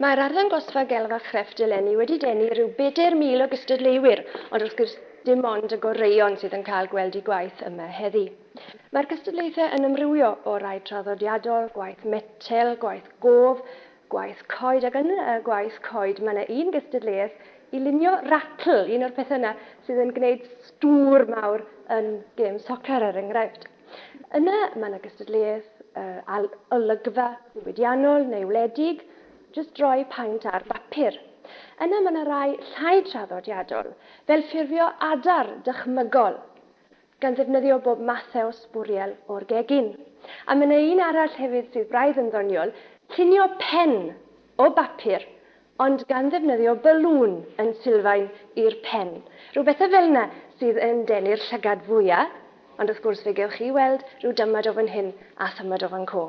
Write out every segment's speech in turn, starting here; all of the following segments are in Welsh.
Mae'r arddangosfa Gelf a Chrefft eleni wedi denu rhyw bedair mil o gystadleuwyr, ond wrth gwrs dim ond y goreuon sydd yn cael gweld eu gwaith yma heddi. Mae'r cystadlaethau yn ymrywio o rai traddodiadol, gwaith metel, gwaith gof, gwaith coed ac yn y gwaith coed mae yna un gystadleuaeth i lunio ratl, un o'r pethau yna sydd yn gwneud stŵr mawr yn gêm socer er enghraifft. Yna mae 'na gystadleuaeth ail olygfa ddiwydiannol neu wledig, jyst droi paent ar bapur. Yna mae 'na rai llai traddodiadol, fel ffurfio adar dychmygol, gan ddefnyddio bob mathau sbwriel o'r gegin. A mae 'na un arall hefyd sydd braidd yn ddoniol, llunio pen o bapur ond gan ddefnyddio balŵn yn sylfaen i'r pen, rhyw bethe fel 'na sydd yn denu'r llygad fwya', ond wrth gwrs fe gewch chi weld rhyw dymad o fan hyn a thymad o fan 'co.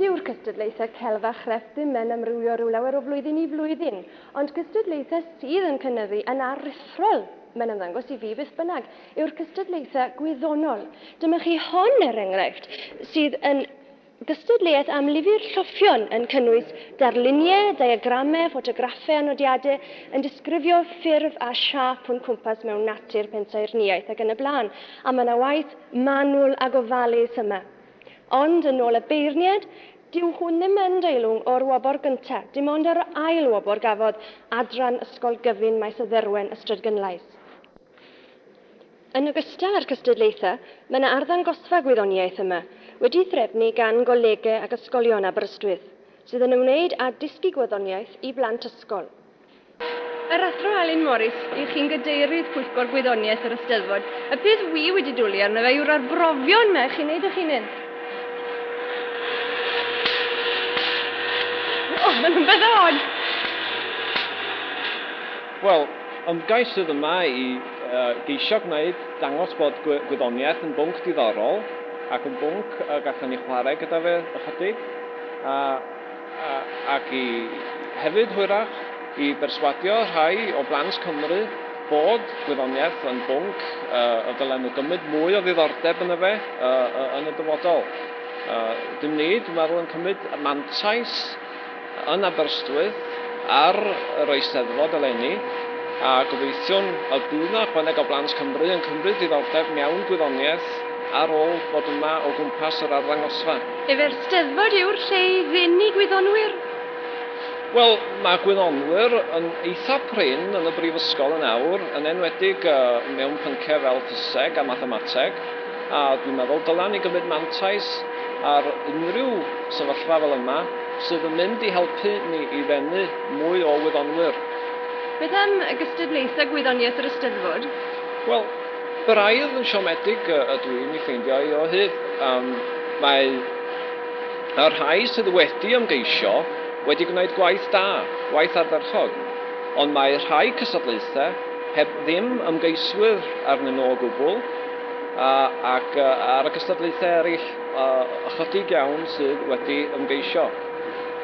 Dyw'r cystadlaethau celf a chrefft ddim yn amrywio rhyw lawer o flwyddyn i flwyddyn, ond cystadlaethau sydd yn cynyddu yn aruthrol, mae'n ymddangos i fi beth bynnag, yw'r cystadlaethau gwyddonol. Dyma chi hon, er enghraifft, sydd yn Gystadleuaeth am lyfr lloffion yn cynnwys darluniau, diagramau, ffotograffau a nodiadau yn disgrifio ffurf a siâp o'n cwmpas mewn natur, pensaernïaeth ac yn y blaen, a mae yna waith manwl a gofalus yma. Ond, yn ôl y beirniad, dyw hwn ddim yn deilwng o'r wobr gyntaf, dim ond yr ail wobr gafodd Adran Ysgol Gyfun Maes y Dderwen, Ystrad Gynlais. Yn ogystal â'r cystadlaethau, mae yna arddangosfa gwyddoniaeth yma, wedi'i threfnu gan golegau ac ysgolion Aberystwyth, sydd yn ymwneud â dysgu gwyddoniaeth i blant ysgol. Yr Athro Alun Morris yw chi'n Gadeirydd Pwyllgor Gwyddoniaeth yr Eisteddfod. Y peth wi wedi dwli arno fe yw'r arbrofion 'ma i chi wneud eich hunain. O, maen nhw'n bethau od! Wel, ymgais sydd yma i geisio gwneud, dangos bod gwyddoniaeth yn bwnc diddorol ac yn bwnc y gallwn ni chwarae gyda fe ychydig, a a ac i hefyd, hwyrach, i berswadio rhai o blant Cymru bod gwyddoniaeth yn bwnc y dylen nhw gymryd mwy o ddiddordeb yno fe yn y dyfodol. Ydym ni, dwi'n meddwl, yn cymryd mantais yn Aberystwyth ar yr Eisteddfod eleni, a gobeithiwn y bydd 'na ychwaneg o blant Cymru yn cymryd diddordeb mewn gwyddoniaeth ar ôl bod yma o gwmpas yr arddangosfa. Yfe'r Steddfod yw'r lle i ddenu gwyddonwyr? Wel, mae gwyddonwyr yn eitha' prin yn y Brifysgol yn awr, yn enwedig mewn pynciau fel ffiseg a mathemateg. A dwi'n meddwl, dylen ni gymryd mantais ar unrhyw sefyllfa fel yma sydd yn mynd i helpu ni i ddenu mwy o wyddonwyr. Beth am y gystadlaethau gwyddoniaeth yr Eisteddfod? Wel, braidd yn siomedig ydw i'n ei ffeindio hi o hyd. Yym, mae y rhai sydd wedi ymgeisio wedi gwneud gwaith da, gwaith ardderchog, ond mae rhai cystadlaethau heb ddim ymgeiswyr arnyn nhw o gwbl, ac ar y cystadlaethau eraill, ychydig iawn sydd wedi ymgeisio.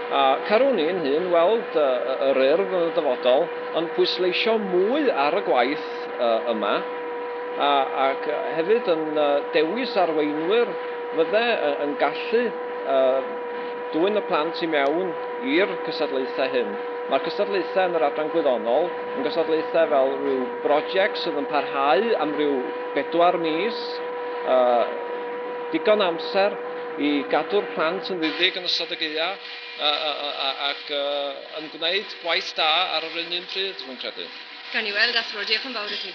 A carwn i'n hun weld yr Urdd yn y dyfodol yn pwysleisio mwy ar y gwaith yma, ac hefyd yn dewis arweinwyr fydde yn gallu dwyn y plant i mewn i'r cystadlaethau hyn. Mae'r cystadlaethau yn yr adran gwyddonol yn gystadlaethau fel rhyw Broject sydd yn parhau am ryw bedwar mis, digon amser i gadw'r plant yn ddidig yn ystod y gaeaf ac yn gwneud gwaith da ar yr un un pryd, rwy'n credu. Gawn ni weld, Athro. Diolch yn fawr i chi.